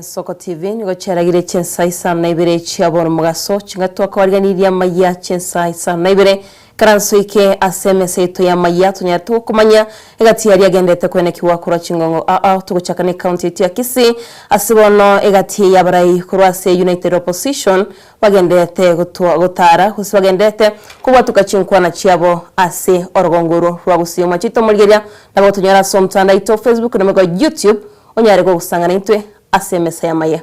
Isiko TV nigo chiaragirie chinsa isano na ibere chia boromogaso, chingaki twakobariganirie amayia chinsa isano na ibere. Karanso oike ase emesa yaito y'amayia tonyarete gokomanya egati yaria agenderete koenekigwa korwa chingong'o aa. Togochaka necounty yaito ya Kisii ase bono egati eye yabarai korwa ase United Opposition, Bagenderete gotwa, gotaara, gose bagenderete kobwatuka chinkwana chiabo ase orogongo orwo rwa gusii omachete omorigeria. Nabo gotonyora ase omtandao oito o Facebook na boigo YouTube onyare kogosanga naintwe ase emesa y'amaye.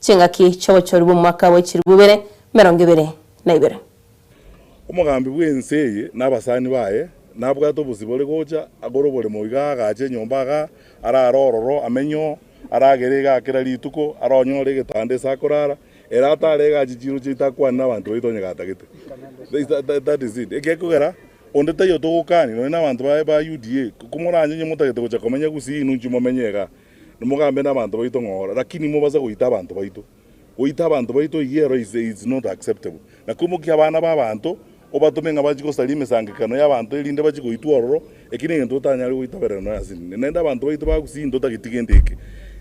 Chingaki chi'obochori bw'omwaka bwa echielfu ibere emerongo ebere na ibere. Omogambi bw'ense eye na abasani baye nabwate obosio bore gocha agore oboremo iga agache enyomba iga arare ororo amenye oo aragere iga kera rituko ara onyore egetanda ase akorara ere atare iga ache chiro chiaito akwane nabanto baito onye gatagete that is it egekogera onde taiyo togokani nonye nabanto ba UDA komoranye onye motagete gocha komenya gusii inwe inche momenye iga. Nimogambe nabanto baito ng'a ora, lakini nimobase goita abanto baito. Goita abanto baito eyio ero is, is not acceptable. Na koimokia abana b'abanto, obatome ng'a bachie gosaria emesangekano y'abanto erinde bachie goitwa ororo, eki negento totanyare goitaberera nonya ase ninde. Naende abanto baito ba Gusii ntotageti gento eke.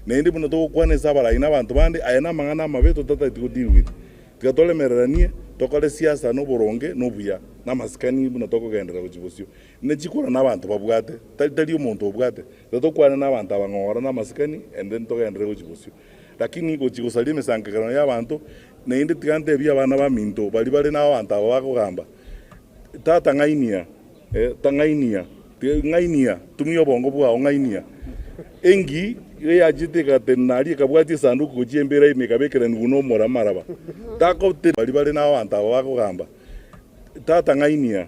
Naende buna togokwana ase abarai na abanto bande, aya namang'ana amabe totatageti go deal with. Tiga toremereranie, tokore siasa noboronge, nobuya, namasikani buna tokogenderera gochia bosio. Ne chikorana abanto babwate, tari tari omonto obwate. Igo tokwane nabanto aba ng'a orana amasikani, erinde ntogenderere gochia bosio. Lakini gochia gosaria emesangerereano y'abanto, naende tiga ntebie abana baminto baria bare nababanto aba bagogamba, Tata ng'ainia, tang'ainia, ng'ainia, tumia obongo bwao, ng'ainia. Engi iga yachiete egatenena aria ekabwatia esanduku gochia embira ime ekabekeranigwa nomora amaraba. Takotebi baria bare nababanto aba bagogamba, Tata ng'ainia.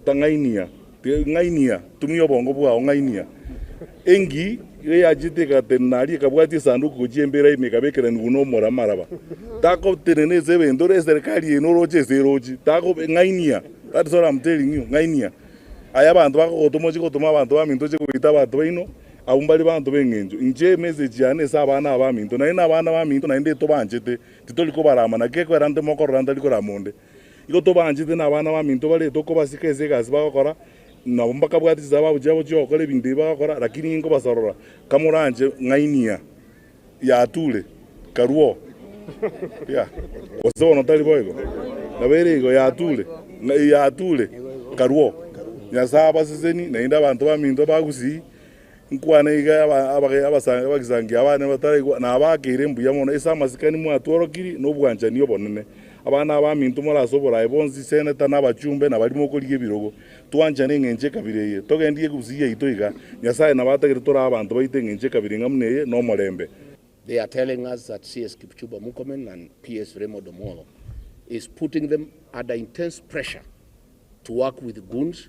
Ng'ainia, ng'ainia, tumia obongo bwao, ng'ainia. Engi eyachete egatenena aria, ekabwatia esanduku gochia embeera ime, ekabekerania igoro n'omoramaraba. Tagotenena ase ebento, ore eserikari eye noroche ase erochi. Tago, ng'ainia, that is all I'm telling you, ng'ainia. Aye abanto bakogotoma ochie gotoma abanto baminto ochie kobaita abanto baino, abwo mbare abanto b'eng'encho. Inche emessage yane ase abana aba baminto, naende abana baminto naende tobanchete, titori kobarama, naki ekwera nte mokorora ntari korama onde. Igo tobaanchete na abana baminto baria tokobasika ase egasi bagokora, nabo mbakabwate chisababu chiabo chi'ogokora ebinto ebi bagokora, lakini inkobasorora kamoranche ng'ainia ya Tule, karwo, gose bono tari boigo? Nabo ere igo ya Tule, ng'ai ya Tule, karwo, Nyasae abaseseni, naende abanto baminto ba Gusii, Nkwane iga abagisangio abane bataraigwa, na abaakeire mbuya mono ase amasikani mwatworokirie nobwanchani obonene. Abana abaminto more ase oboraai bonsi, seneta, na abachumbe, na baria mokorigia ebirogo, twanchane engencho y'ekabira eye. Togendie egusii yaito iga. Nyasae nabo atagete tore abanto baito engencho y'ekabira ing'a buna eye, na omorembe. They are telling us that CS Kipchumba Murkomen and PS Raymond Omollo is putting them under intense pressure to work with goons.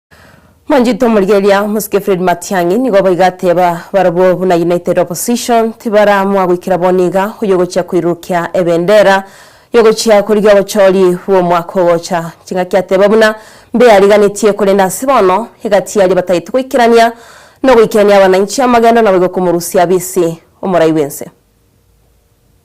Mwanchete omorigeria omosike Fred Matiang'i nigo boigo ateba barabwo buna United Opposition tibaraamua goikera bono iga oyogochia koirurukia ebendera yogochia korigia obochori bw'omwaka ogocha. Ching'aki ateba buna mbe ariganetie korende ase bono egati aria batagete goikerania nogoikerania abananchi amagendo naboigo komorusia bisi omorai bw'ense.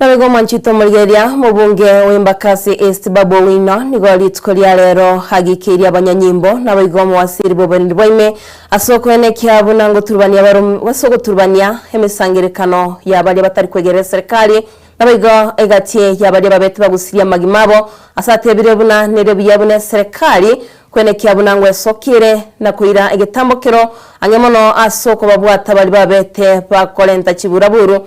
Naboigo mwanchete omorigereria mobunge w'Embakasi East Babu Owino nigo rituko ria rero agikeirie abanyanyimbo naboigo omowasiri bw'oborendi bwaime ase okoena ekiaa buna ngoturubania barom ase ogoturubania emesangerekano ya baria batari kwegerera eserikari naboigo egati ya baria babete bagusiri amagima abo ase atebirie buna nere buya buna eserikari kwena ekiaa buna ngwesokire na koira egetambo kero ang'e mono ase okobabwata baria babete bakorenta chiburaburu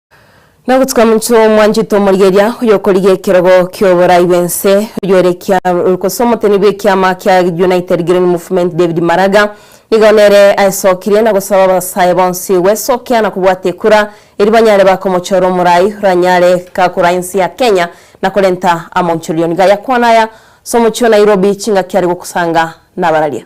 Na ogotuka omonto omwanchete omorigeria, oyokorigia ekerogo ki'oborai bw'ense, oyoerekia gose omoteni bw'ekiama kia United Green Movement David Maraga nigo nere aesokirie na gosaba abasae bonsi gwesokea na kobwata ekura erio banyare bakomochora omorai oranyare gakora ense ya Kenya na korenta amaonchorioni. Gayakwana aya ase omochie o Nairobi chingaki are gokosanga nabararia.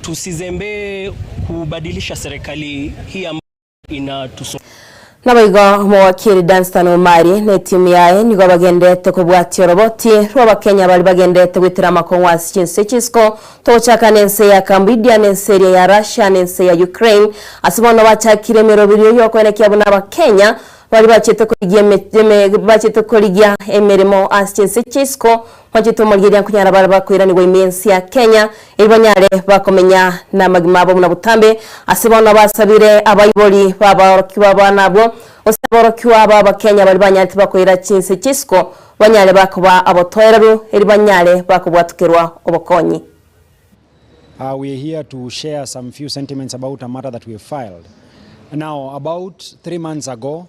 Tusizembee kubadilisha serikali hii ambayo inatusum. Naboigo omogokiri Dunstan Omari na etimu yaye nigo bagendererete kobwatia oroboti rw'Abakenya baria bagendererete goitera amakong'u ase chinse chisiko, togochaka nense ya Cambodia na ense eria ya Russia na ense ya Ukraine. Ase bono bachakire emeroberio y'okoenekia buna Abakenya baria bachete korigia emeremo ase chinse chisiko. Mwachitoma riria nkonyara baria bakoiranigwa ime ense ya Kenya, erio banyare bakomenya namagima abo buna botambe. Ase bono abasabire abaibori baborokigwa bane abwo, gose aborokigwa b'Abakenya baria banyarete bakoira chinse chia isiko, banyare bakoba abotoereru, erio banyare bakobwatokerwa obokonyi. We are here to share some few sentiments about a matter that we have filed. Now about three months ago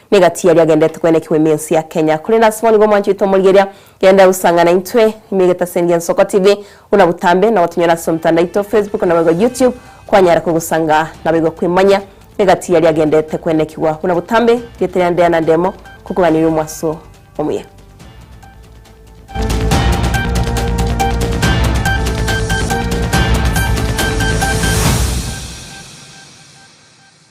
Niga tiyari agendete koenekigwa ime ense ya Kenya, korende ase bono igo mwanchoete omorigeria, genda gosanga naintwe ime egetasendi Ensoko TV, buna botambe nabo tonyore ase omtandao oito, Facebook naboigo YouTube, kwanyara kogosanga naboigo kwemanya niga tiyari agendete koenekigwa buna botambe, rieta riane Diana Ndemo, kokoganiria omwaso omuya.